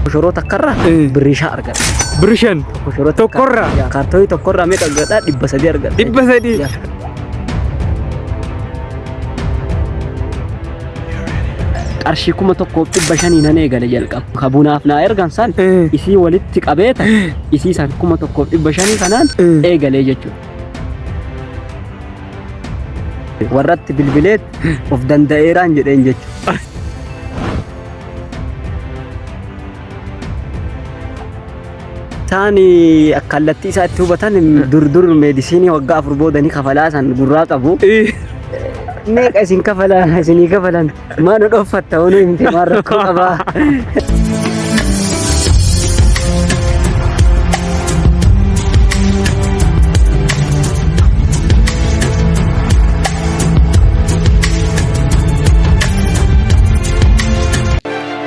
Koshoroo takkarraa Eh. birrii shan argadha. Birri shan. Koshoroo Tokkorraa? Yaa, Kaartoonii tokkorraa meeqa argadha? Dhibba sadii argadha. Dhibba sadii. Yaa. Qarshii kuma tokkoof dhibba shanii nan eegale jalqaba. Ka bunaaf naa ergan san Eh. isii walitti qabeeta isii san kuma tokkoof dhibba shanii kanaan Eh. eegalee jechuudha. Warratti bilbileet of danda'eeraan jedheen jechuudha. Isaan kallattii isaa itti hubatan dur dur meedisinii waggaa afur booda ni kafalaa san gurraa qabu. Meeqa isin kafalaa isinii kafalan? Maa nu dhoffatta honu himte maa rakkoo qabaa.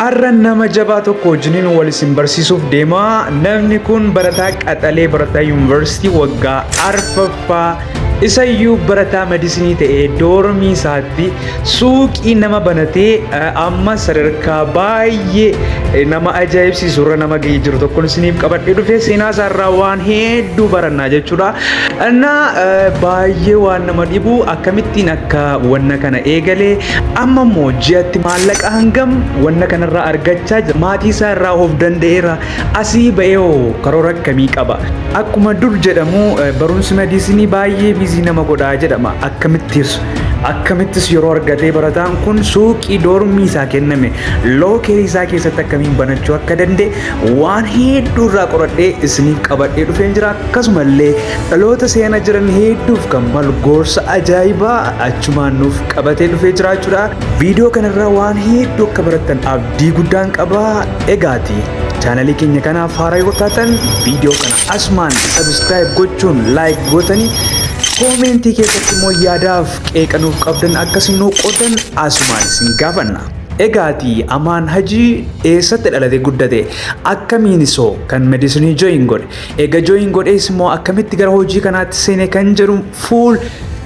Har'a nama jabaa tokko wajjiniin wal isin barsiisuuf deema. Namni kun barataa qaxalee barataa yuunivarsiitii waggaa arfaffaa Isayyuu barataa madisinii ta'ee doormii isaatti suuqii nama banatee amma sadarkaa baay'ee nama ajaa'ibsiisu irra nama ga'ee jiru tokkoon isiniif qabadhee dhufee seenaa isaarraa waan hedduu barannaa jechuudha. Innaa baay'ee waan nama dhibu akkamittiin akka wanna kana eegalee amma immoo ji'atti maallaqa hangam wanna kanarraa argachaa jira. Maatii isaa irraa of danda'eera. Asii ba'eewoo karoora akkamii qaba? Akkuma dur jedhamu barumsi mediisinii baay'ee biizii nama godhaa jedhama. Akkamittis akkamittis yeroo argatee barataan kun suuqii doormii isaa kenname lookerii isaa keessatti akkamiin banachuu akka danda'e waan hedduu irraa qoradhee isiniif qabadhee dhufeen jira. Akkasumallee dhaloota seena jiran hedduuf kan malu gorsa ajaa'ibaa achumaan nuuf qabatee dhufee jiraachuudha. Viidiyoo kanarraa waan hedduu akka barattan abdii. Abdii guddaan qaba egaati chaanalii keenya kanaaf haaraa yoo taatan viidiyoo kana asumaan sabiskiraayib gochuun laayik gootanii koomeentii keessatti immoo yaadaaf qeeqa nuuf qabdan akkasii nuu qoodan asumaan isin gaafanna. Egaati Amaan Hajii eessatti dhalate guddate akkamiin isoo kan medisinii jooyin godhe eega jooyin godhees immoo akkamitti gara hojii kanaatti seene kan jedhu full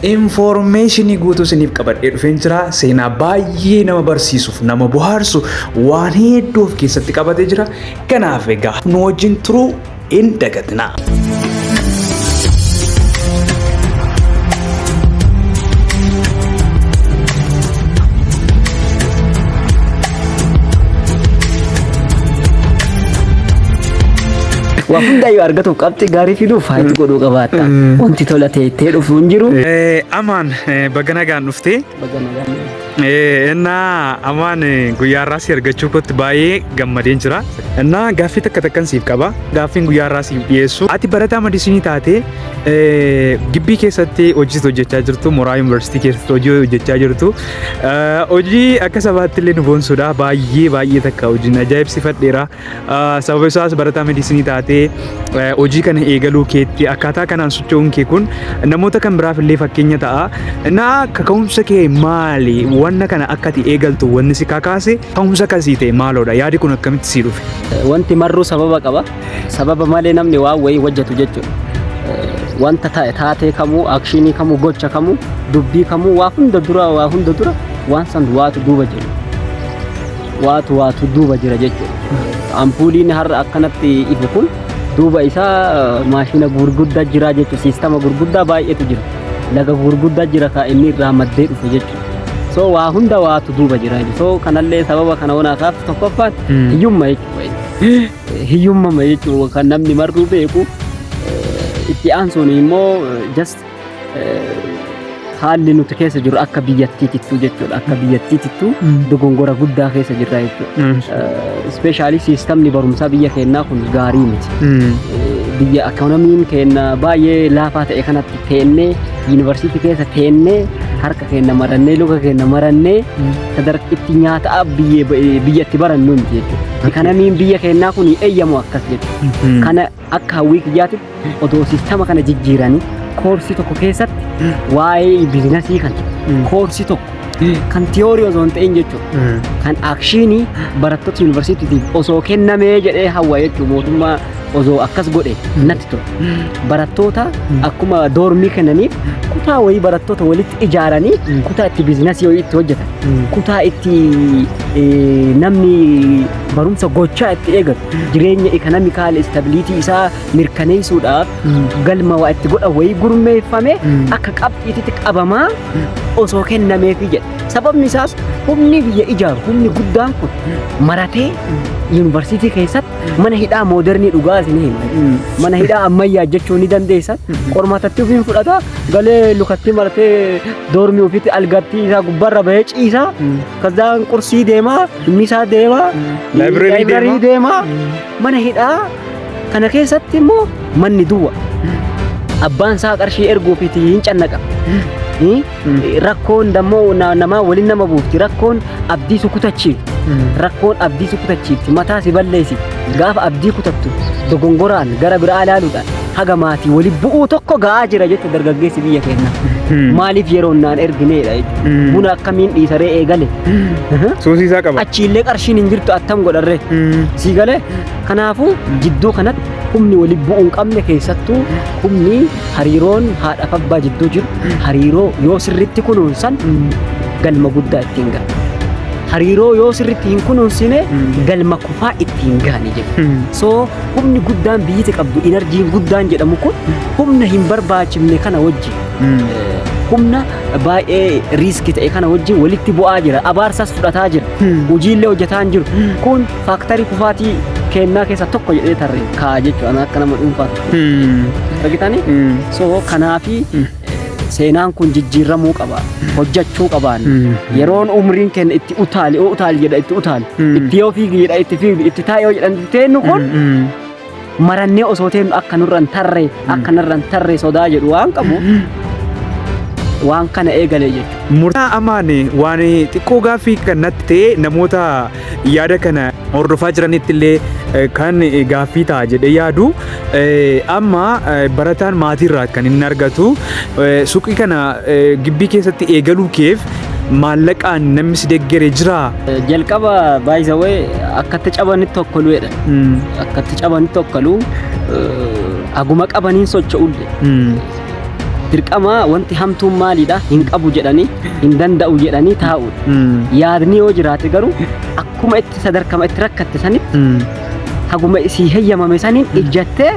information guutuu isiniif qabadhee dhufeen jira. Seenaa baay'ee nama barsiisuuf nama bohaarsu waan hedduu of keessatti qabatee jira. Kanaaf egaa nu wajjin turuu hin dagatinaa. Waa hundaayyuu argatuuf qabxii gaarii fiduuf haati godhuu qabaata. Wanti tola ta'e itti dhufu hin jiru. Amaan baga nagaan dhufte. Baga nagaan dhufte. Innaa amaan guyyaa irraa si argachuu kootti baay'ee gammadeen jira. Innaa gaaffii takka takkan siif qaba. Gaaffiin guyyaa irraa siif dhiyeessu. Ati barataa madisinii taate gibbii keessatti hojii hojjechaa jirtu mooraa yuunivarsiitii keessatti hojii hojjechaa jirtu. Hojii akka sabaatti illee nu boonsuudha. Baay'ee baay'ee takka hojiin ajaa'ibsiifadheera. Sababa isaas barataa mediisinii taatee hojii kana eegaluu keetti akkaataa kanaan socho'uun kee kun namoota kan biraaf illee fakkeenya ta'a. Naa kaka'umsa kee maali? Wanna kana akka ati eegaltu wanni si kakaase kaka'umsa akkasii ta'e maaloodha? Yaadi kun akkamitti sii dhufe? Wanti marruu sababa qaba. Sababa malee namni waan wayii hojjetu jechuudha. Wanta ta'e taatee kamuu, akshinii kamuu, gocha kamuu, dubbii kamuu waa hunda dura waa hunda dura waan san waatu duuba jiru. Waatu waatu duuba jira jechuudha. Ampuuliin har'a akkanatti ifu kun duuba isaa maashina gurguddaa jira jechuudha. Siistama gurguddaa baay'eetu jira. Laga gurguddaa jira kaa inni irraa maddee dhufe jechuudha. So waa hunda waatu duuba jira. So kanallee sababa kana wanaa kaaf tokkoffaan hiyyumma jechuudha. Hiyyummama jechuun kan namni marruu beeku itti aansuun immoo just haalli nuti keessa jiru akka biyyattii tittuu jechuudha. Akka biyyattii tittuu dogongora guddaa keessa jirra jechuudha. Ispeeshaalii siistamni barumsaa biyya keenyaa kun gaarii miti. Biyya akkanomiin keenya baay'ee laafaa ta'e kanatti teennee yuunivarsiitii keessa teennee harka keenya marannee luka keenya marannee sadarkitti nyaata biyyatti barannu miti jechuudha. Kana miin biyya keenyaa kun eeyyamu akkas jedhu. Kana akka hawwii kiyyaatti odoo sistama kana jijjiiranii koorsii tokko keessatti waa'ee biizinasii kana koorsii tokko kan tiyoorii osoo hin ta'in jechuudha. Kan akshiinii barattoota yuunivarsiitiitiif osoo kennamee jedhee hawwa jechuudha mootummaa osoo akkas godhe natti ture. Barattoota akkuma doormii kennaniif kutaa wayii barattoota walitti ijaaranii kutaa itti biizinasii wayii itti hojjetan. kutaa itti namni barumsa gochaa itti eegatu jireenya ekonomikaal istabiliitii isaa mirkaneessuudhaaf galma waa itti godha wayii gurmeeffame akka qabxiititti qabamaa osoo kennameefi jedha. Sababni isaas humni biyya ijaaru humni guddaan kun maratee yuunivarsiitii keessatti mana hidhaa moodernii dhugaa isin hima. Mana hidhaa ammayyaa jechuu ni dandeessan. Qormaatatti ofiin fudhata galee lukatti maratee doormii ofitti algatti isaa gubbarra bahee ciisa kazzaan qursii deema inni isaa deema Library library deema mana hidhaa kana keessatti immoo manni duwwa abbaan isaa qarshii erguufiiti hin cannaqa Hi? rakkoon dammoo na- namaa waliin nama buufti rakkoon abdii si kutachiifti rakkoon abdii si kutachiifti mataa si balleessi gaafa abdii kutattu dogongoraan gara biraa ilaaluudhaan haga maatii wali bu'uu tokko ga'aa jira jette dargaggeessi biyya keenya. Maaliif yeroon naan ergineedha jechuudha. Buna akkamiin dhiisaree eegale. Suusii isaa qaba. Achiillee qarshiin hin jirtu attam godharree. Sii galee kanaafuu jidduu kanatti humni wali bu'uu hin qabne keessattuu humni hariiroon haadhaaf abbaa jidduu jiru hariiroo yoo sirriitti kunuunsan galma guddaa ittiin ga'a. Hariiroo yoo sirriitti hin kunuunsine galma kufaa ittiin gaani jedhu. So Humni guddaan biyyiti qabdu inarjiin guddaan jedhamu kun humna hin barbaachifne kana wajjin humna baay'ee riiski ta'e kana wajjin walitti bu'aa jira abaarsas fudhataa jira hojiillee hojjetaa hin jiru kun faaktarii kufaatii kennaa keessaa tokko jedhee tarree kaa'a jechuudha akka nama dhuunfaatti. Argitanii? So kanaafi Seenaan kun jijjiirramuu qaba. Hojjachuu qabaan. Yeroon umriin kenna itti utaali, oo utaali jedha itti utaali. Itti yoo fiigi jedha itti fiigi, itti taa'e yoo jedhan itti teennu kun marannee osoo teennu akka nurra hin tarre, akka narra hin tarre sodaa jedhu waan qabu waan kana eegalee jechuudha. Murtaa amaane waan xiqqoo gaaffii kan natti ta'e namoota yaada kana hordofaa jiranitti illee eh, kan eh, gaaffii ta'a jedhee yaadu eh, amma eh, barataan maatii irraa kan inni argatu eh, suuqii kana eh, gibbii keessatti eegaluu keef maallaqaan namni si deggere jira. Jalqaba baay'isawee akkatti cabanitti tokkoluudha. Mm, Akkatti cabanitti tokkoluu eh, haguma qabaniin socho'uudha. mm. Dirqama wanti hamtuun maaliidha hin qabu jedhanii hin danda'u jedhanii taa'uudha. Yaadni yoo jiraate garuu akkuma itti sadarkama itti rakkatte sanitti haguma isii heyyamame saniin ijjattee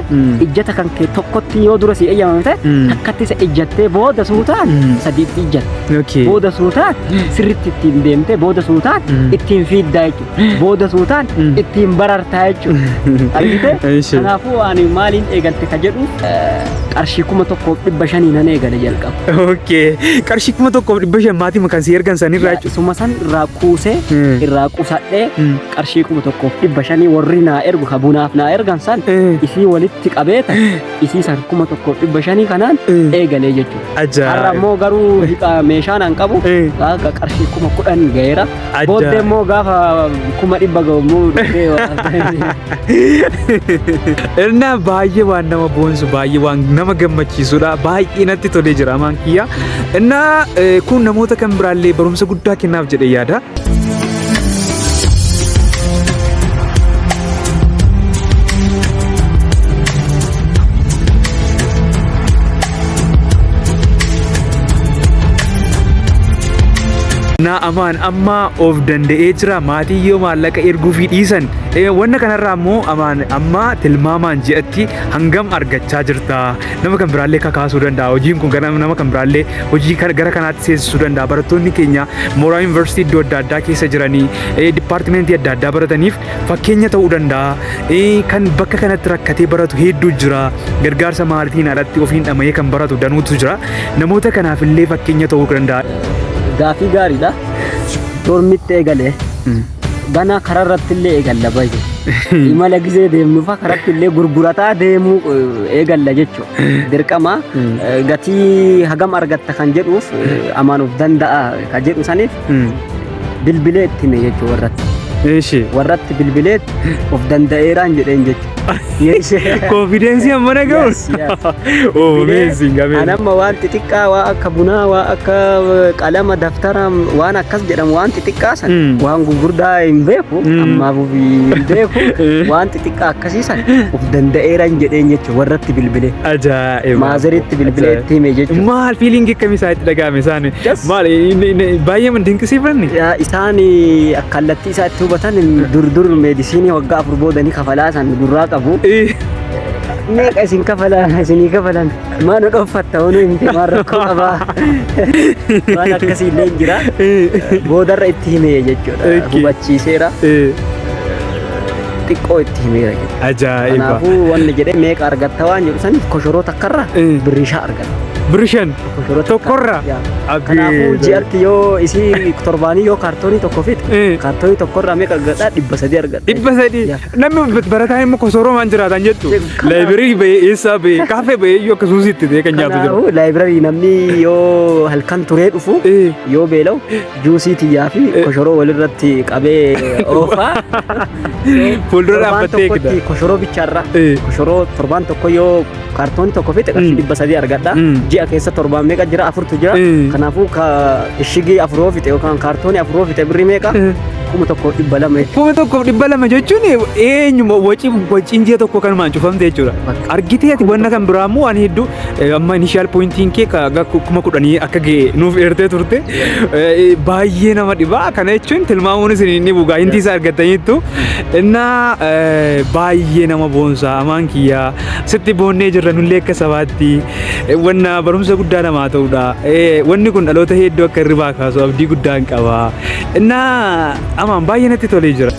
ijjata kan kee tokkotti yoo dura sii heyyamame ta'e takkatti isa ijjattee booda suutaan sadiitti ijjatte. Booda suutaan sirritti ittiin deemtee booda suutaan ittiin fiiddaa jechuudha. booda suutaan ittiin barartaa jechuudha. Argite? Eeshi. Kanaafuu ani maaliin eegalte ka jedhu eh, qarshii kuma tokkoof dhibba shanii nan eegale jalqaba. Okay. Qarshii kuma tokkoof dhibba shan maatii makan si ergan san irraa jechuudha. Suma san irraa kuusee Mm. irraa qusadhee Mm. qarshii kuma tokkoof dhibba shanii warri naa ergu ka bunaaf naa ergan san Eh. isii walitti qabeeta isiisan kuma tokkoof dhibba shanii kanaan Eh. eegalee jechuudha. Har'a Ajaa'iba. immoo garuu hiqa meeshaan an qabu Eh. akka qarshii kuma kudhan gaheera. Ajaa'iba. Booddee immoo gaafa kuma dhibba gahu immoo dhufee waan Irnaa baay'ee waan nama boonsu baay'ee waan nama gammachiisudha baay'ee natti tolee jira amaan kiyya. Innaa eh, kun namoota kan biraallee barumsa guddaa kennaaf jedhee yaada. Naa amaan amma of danda'ee jira maatii yoo maallaqa erguu fi dhiisan wanna kanarraa immoo amaan amma tilmaamaan ji'atti hangam argachaa jirta nama kan biraallee kakaasuu danda'a hojiin kun gara nama kan biraallee hojii kan- gara kanaatti seensisuu danda'a barattoonni keenya mooraa yuunivarsiitii iddoo adda addaa keessa jiranii eh, dipaartimentii adda addaa barataniif fakkeenya ta'uu danda'a Eh, kan bakka kanatti rakkatee baratu hedduu jira gargaarsa maalitiin alatti ofiin dhama'ee kan baratu danuutu jira namoota kanaaf illee fakkeenya ta'uu danda'a. Gaafii gaariidha. Dormitti eegalee Ganaa karaa irratti illee eegalla baay'ee. Imala gizee deemnuufa karatti illee gurgurataa deemuu eh, eegalla jechuudha. Dirqama Mm. eh, gatii hagam argatta kan jedhuuf eh, amaanuuf danda'a kan jedhu saniif Mm. bilbilee itti hime jechuudha warratti. Eeshi. Warratti bilbilee of danda'eeraan jedheen jechuudha. Yes. Confidence amma na gahu. Yes, yes. Oh, amazing, An amazing. amma waan xixiqqaa waa akka bunaa waa akka eh, qalama daftara waan akkas jedhamu waan xixiqqaa san Mm. waan gurguddaa hin beeku Mm. ammaaf hin beeku waan xixiqqaa akkasii san of danda'eera hin jedheen jechuudha warratti bilbilee Ajaa'iba. maazaritti bilbilee itti hime jechuudha. Maal fiiliingi akkamii isaatti dhaga'ame isaan? Yes. Maal inni- inni- baay'ee man dinqisiifanne? Yaa, Isaan eh, kallattii Isa itti hubatan dur dur meedisinii waggaa afur booda ni kafalaa san gurraa qabu. Meeqa isin kafalaa isinii kafalan maal nu dhoffatta honu himte maal rakkoo qabaa waan akkasii illee jira boodarra itti himee jechuudha Ok. hubachiiseera xiqqoo itti himeera jechuudha. Ajaa'iba. Kanaafuu wanni jedhee meeqa argatta waan jedhu saniif koshoroo takkarra Eh. birrii shan argatta. Birishan. Tokkorraa. Kanaafuu ji'atti yoo isii torbaanii yoo kaartoonii tokko fite Eh. kaartoonii tokkorraa meeqa argadhaa dhibba sadii argadha. dhibba sadii Yaa. namni barataa immoo kosoromaan jiraatan jechuun Kana- laayibirii ba'ee eessaa ba'ee kaafee ba'ee iyyuu akka suusiitti ta'ee kan nyaatu jiru. Kanaafuu laayibirarii namni yoo halkan turee dhufu Eh. yoo beela'u juusii tiyyaa fi koshoroo walirratti qabee oofaa. Fuuldura Torbaan dhaabbattee eegda. tokkotti Koshoroo bichaarra. Eh. Koshoroo torbaan tokko yoo kaartoonii tokko fixe qarshii Mm. dhibba sadii argadha Mm. ji'a keessa torbaan meeqa jira afurtu jira Mm. kanaafuu ka ishigii afuroo fixe yookaan kaartoonii afuroo fixe birrii meeqa kuma tokko dhibba lama jechuudha. kuma tokkoof dhibba lama jechuun eenyuma wacii waciin ji'a tokko kanumaan cufamte jechuudha. Argitee ati wanna kan biraa immoo waan hedduu eh, amma inishaal poointiin kee ka- ga- kuma kudhanii akka ga'e nuuf eertee turte Eh, baay'ee nama dhibaa kana jechuun tilmaamuun isin hin dhibu gaa hintii isaa argataniittu innaa eh, baay'ee nama boonsaa amaan kiyyaa Sitti boonnee jirra nullee akka sabaatti wanna barumsa guddaa namaa ta'udha. Wanni kun dhaloota hedduu akka hirribaa kaasu abdii guddaan qaba. Innaa amaan baay'ee natti tolee jira.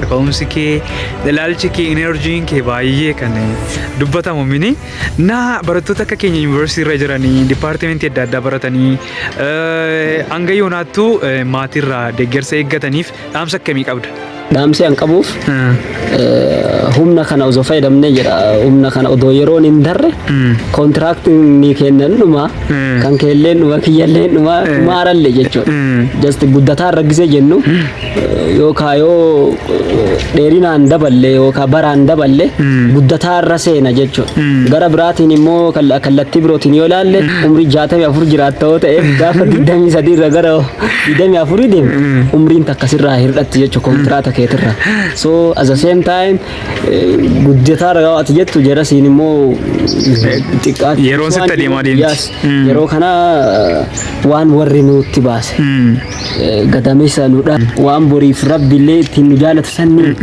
Ka'umsi kee Ilaalchi kee enerjiin kee baay'ee kan dubbatamu mini na barattoota akka keenya yuunivarsiitii irra jiranii dipaartimentii adda addaa baratanii eh, hanga yoonaattuu eh, maatiirraa deeggarsa eeggataniif dhaamsa akkamii qabda? Dhaamsi an qabuuf Hmm. eh, humna kana osoo fayyadamne jedha humna kana odoo yeroon hin darre Hmm. kontiraaktiin ni kennan dhuma Mm. kan keelleen dhuma kiyyalleen dhuma Mm. maaralle jechuudha. Mm. Just guddataa raggisee jennu yookaa yoo dheerinaan daballe yookaa baraan daballe guddataa irra seena jechuudha. Gara biraatiin immoo kal- kallattii birootiin yoo ilaalle umrii 64 jiraatta yoo ta'eef gaafa 23 irra gara 24 deemu umriin takka sirraa hir'atti jechuudha kontiraata keetirra. So as the same time eh, guddataa irra yoo ati jettu jarasiin immoo xiqqaatti. Yeroon sitti adeemaa deemti. Yes. Mm. Yeroo kana eh, waan warri nutti baase. Mm. gadameessa nu dha waan boriif rabbillee ittiin nu jaalatu sanni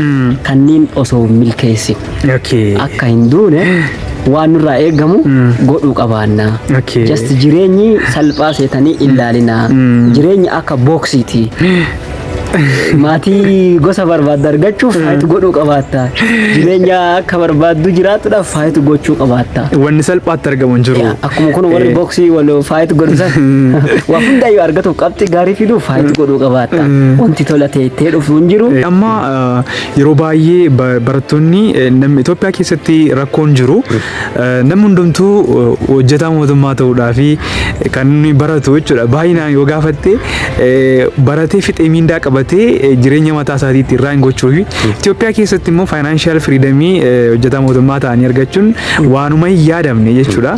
kanniin osoo hin milkeessin Okay. akka hin duune waan nurraa eegamu godhuu qabaanna. Okay. Just jireenyi salphaa seetanii ilaalina. Jireenyi akka booksiiti. Maatii gosa barbaaddu argachuuf faayitu godhuu qabaatta. Jireenya akka barbaaddu jiraatudhaaf faayitu gochuu qabaatta. Wanni salphaatti argamu hin jiru. Akkuma kun warri Eh. boksii wal faayit godhu san waa hundaayyuu argatuuf qabxii gaarii fiduuf faayit godhuu qabaatta. Wanti tola ta'e itti dhufu hin jiru. Eh, Amma eh, yeroo baay'ee ba- barattoonni eh, nam- Itoophiyaa keessatti rakkoon jiru eh, namni hundumtuu eh, hojjetaa mootummaa ta'uudhaa fi kan inni baratu jechuudha. Baay'inaan yoo gaafatte eh, baratee fixee miindaa qabatee eh, jireenya mataa isaatii ittiin irraa hin gochuu fi Itoophiyaa keessatti immoo faayinaanshaal firiidamii hojjetaa mootummaa ta'anii argachuun waanuma hin yaadamne jechuudha.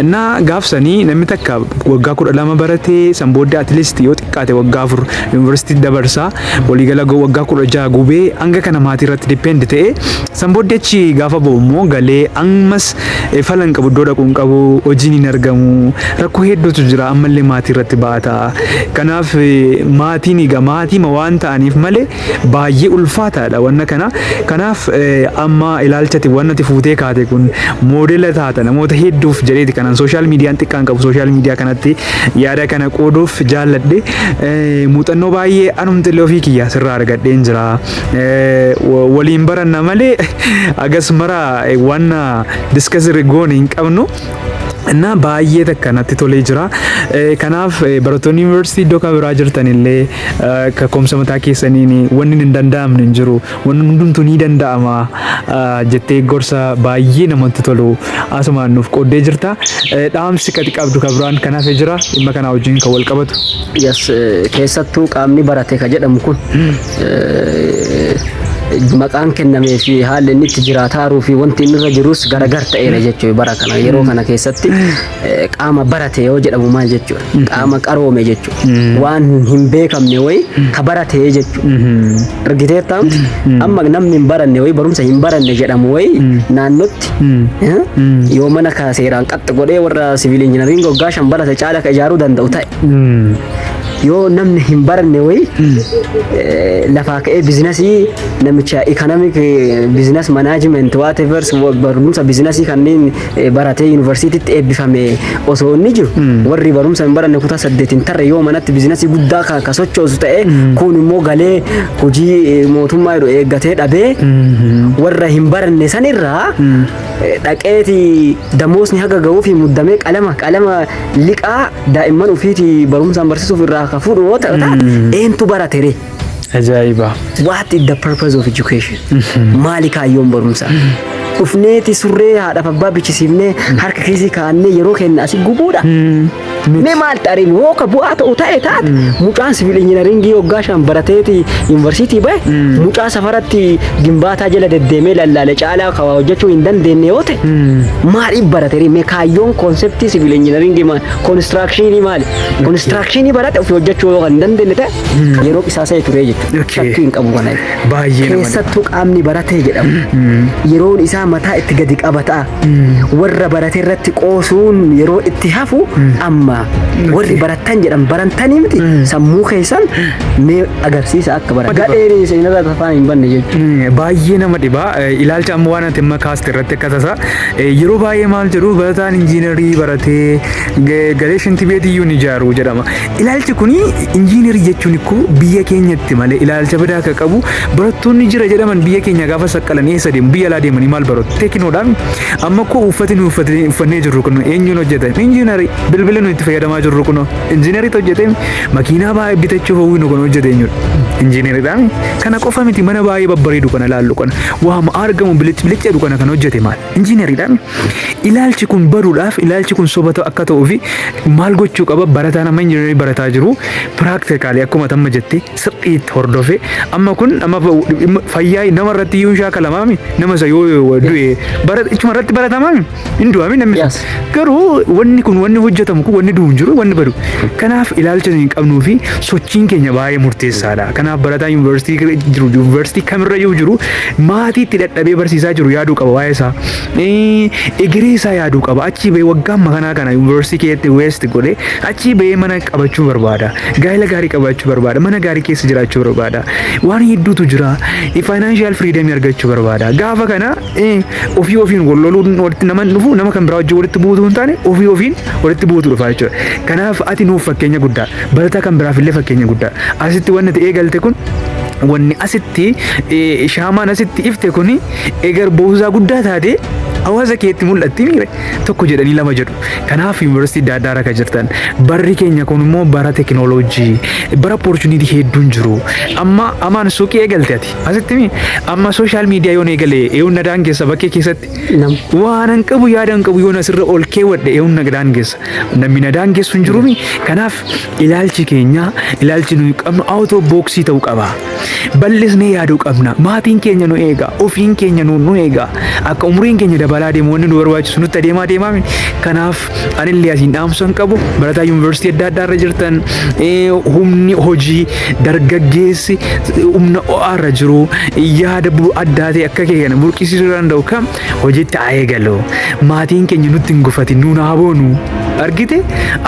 Innaa gaafsanii namni takka waggaa kudha lama baratee san booddee atleast yoo xiqqaate waggaa afur yuunivarsiitii dabarsaa waliigala go- waggaa kudha jaha gubee hanga kana maatii irratti depend ta'e san booddee achi gaafa ba'u immoo galee ammas eh, fala hin qabu iddoo dhaquu hin qabu hojiin hin argamu rakkoo hedduutu jira ammallee maatii irratti baata. Kanaaf eh, maatiin egaa maatiima waan ta'aniif malee baay'ee ulfaataadha wanna kana. Kanaaf amma ilaalchati wannati fuutee kaate kun moodela taata namoota hedduuf jedheeti kanan sooshaal miidiyaan xiqqaan qabu sooshaal miidiyaa kanatti yaada kana qooduuf jaalladhe muuxannoo baay'ee anumti illee ofii kiyyaa sirraa argadheen jira. Waliin baranna malee agas mara wanna diskasirri goone hin qabnu. እና baay'ee takka natti tolee jira. Kanaaf barattoonni yuunivarsiitii iddoo kan biraa jirtan illee kakkoomsa mataa keessaniin wanni hin danda'amne hin jiru. Wanni hundumtuu ni danda'ama jettee gorsa baay'ee namatti tolu asumaan nuuf qooddee jirta. Dhaamsi kati qabdu kan biraan kan hafe jira dhimma kanaa wajjin kan wal qabatu. Yes, keessattuu qaamni barate ka jedhamu kun maqaan kennamee fi haalli inni itti jiraataaruu fi wanti inni irra jirus garagar ta'eera jechuudha bara kana yeroo kana keessatti eh, qaama barate yoo jedhamu maal jechuudha qaama qaroome jechuudha waan hin beekamne wayi ka barate jechuudha argiteettaa miti amma namni hin baranne wayi barumsa hin baranne jedhamu wayi naannotti eh, yoo mana ka seeraan qaxxi godhee warra siviil injinariin goggaa shan barate caala ka ijaaruu danda'u ta'e yoo namni hin baranne wayi eh, lafaa ka'ee biizinasii namicha economic eh, business management whatever wa- barumsa biizinasii kanneen eh, baratee yuunivarsiitiitti eebbifame osoo inni jiru warri barumsa hin baranne kutaa saddeet hin tarre yoo manatti biizinasii guddaa ka ka sochoosu ta'e kun immoo galee hojii eh, mootummaa jedhu eeggatee dhabee warra hin baranne sanirraa eh, dhaqeeti Damoosni haga gahuufi muddamee qalama qalama liqaa daa'imman ofiiti barumsaan barsiisuuf irraa ka fuudhu yoo ta'u eentu baratere? Ajaa'iba. What is the purpose of education? Maali kaayyoon barumsaa? Dhufneeti surree haadhaaf abbaa bichisiifnee harka kiisii kaa'annee yeroo keenya asi gubuudha. Mee maal xariin hoo ka bu'aa ta'u ta'e taate mucaan siviil injinaringii waggaa shan barateeti yuunivarsiitii bahe mucaa safaratti gimbaataa jala deddeemee lallaale caalaa ka waa hojjechuu hin dandeenye yoo ta'e maaliif barateeri mee kaayyoon koonseptii siviil injinaringii maal konistiraakshinii maali konistiraakshinii barate ofii hojjechuu yoo kan hin dandeenye ta'e yeroo qisaasa'e turee jechuudha Okay. shakkii hin qabu kana Baay'ee nama keessattuu qaamni baratee jedhamu yeroon isaa mataa itti gadi qabata warra barate irratti qoosuun yeroo itti hafu amma warri barattan jedhan barantanii miti sammuu keessan mee agarsiisa akka baratan. Gadheen isin irra tafaa hin banne jechuudha. Baay'ee nama dhibaa ilaalcha amma waan ati amma kaaste irratti akka tasa yeroo baay'ee maal jedhu barataan injiinarii baratee galee shintibeetii iyyuu ni ijaaru jedhama. Ilaalchi kun injiinarii jechuun ikkoo biyya keenyatti malee ilaalcha badaa akka qabu barattoonni jira jedhaman biyya keenya gaafa saqqalan eessa deemu biyya alaa deemanii maal baratu teekinoodhaan amma koo uffati nu uffatee- uffannee jirru kun eenyuun hojjetan injiinarii bilbila nu itti fayyadamaa jirru kun injiinariitu hojjetee makiinaa baay'ee bitachuuf hawwinu kun hojjete eenyudha injiinariidhaan kana qofa miti mana baay'ee babbareedu kana ilaallu kana waama argamu bilic bilic jedhu kana kan hojjete maal Injiinariidhaan ilaalchi kun baduudhaaf ilaalchi kun soba ta'u- akka ta'uu fi maal gochuu qaba barataan amma injiinarii barataa jiru piraaktikaalii akkuma tamma jette sirriitti hordofee amma kun amma fa- dhimma fayyaa nama irratti iyyuu hin shaakalamaami nama isa yoo yoo du'e bara ichuma irratti baratamaami hin du'aami namni Yes. garuu wanni kun wanni hojjetamu kun wanni du'u hin jiru wanni badu kanaaf ilaalcha hin qabnuu fi sochiin keenya baay'ee murteessaadha kanaaf barataa yuunivarsiitii jiru yuunivarsiitii kamirra yoo jiru Maatii itti dadhabee barsiisaa jiru yaaduu qaba waa'ee isaa. Egeree isaa yaaduu qaba. Achii bahee waggaa amma kanaa kana yuunivarsiitii keessatti weest godhee achii bahee mana qabachuu barbaada. Gaa'ela gaarii qabaachuu barbaada. Mana gaarii keessa jiraachuu barbaada. Waan hedduutu jira. Faayinaanshiyaal firiidamii argachuu barbaada. Gaafa kana ofii ofiin wal loluun walitti nama hin dhufu nama kan biraa wajjin walitti buutuu hin taane ofii ofiin walitti buutu dhufa jechuudha. Kanaaf ati nuuf fakkeenya guddaa. Barataa kan biraaf illee fakkeenya guddaa. Asitti wanti ati eegalte kun wanni asitti eh, shaamaan asitti ifte kuni egar boozaa guddaa taate hawaasa keetti mul'atti miire tokko jedhanii lama jedhu kanaaf yuunivarsiitii adda addaa rakka jirtan barri keenya kun immoo bara tekinooloojii bara opportunity hedduun jiru amma amaan suuqii eegalte ati asitti mi amma sooshaal miidiyaa yoon eegale eewun nadaan keessa bakkee keessatti nam waan hin qabu yaada hin qabu yoon asirra ol keewwadhe eeyyuun na daangessa namni na daangessu hin jiruumi kanaaf ilaalchi keenya ilaalchi nuyi qabnu awutoo booksii ta'uu qaba bal'isnee yaaduu qabna maatiin keenya nu eega ofiin keenya nu nu eega akka umriin keenya dabalaa deemu wanni nu barbaachisu nutti adeemaa deemaami kanaaf anillee asiin dhaamsan qabu barataa yuunivarsiitii adda addaa irra jirtan humni hojii dargaggeessi humna o'aa irra jiru yaada addaa ta'e akka kee kana burqisiisuu danda'u kam hojiitti haa eegalu maatiin keenya nutti hin gufatin nuun haa boonu argite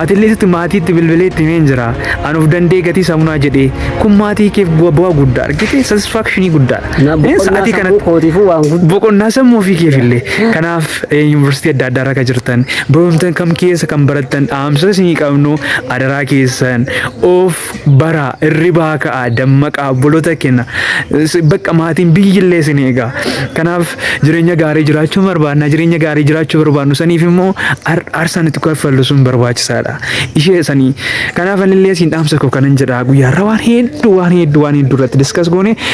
atillee sitti maatiitti bilbilee itti himeen jira anuuf dandee gatii samunaa jedhee kun maatii keef bu'aa guddaa argite satisfaakshinii guddaa Kanaaf Ee, boqonnaa sa'aatii sammuu kanatti- kootiifuu waan guddaa boqonnaa sammuu ofii keef illee kanaaf eh, yuunivarsiitii adda addaa irra kan jirtan barumsa kam keessa kan barattan dhaamsa isinii qabnu adaraa keessan of baraa irribaa ka'a dammaqaa obboloota kenna S- bakka maatiin biyyi illee isin eegaa kanaaf jireenya gaarii jiraachuu barbaadna jireenya gaarii jiraachuu barbaadnu saniif immoo ar- aarsaan itti kaffallu sun barbaachisaadha ishee sanii kanaaf anillee isin dhaamsa koo kanan jedha guyyaarra waan hedduu waan hedduu waan hedduu irratti diskas goone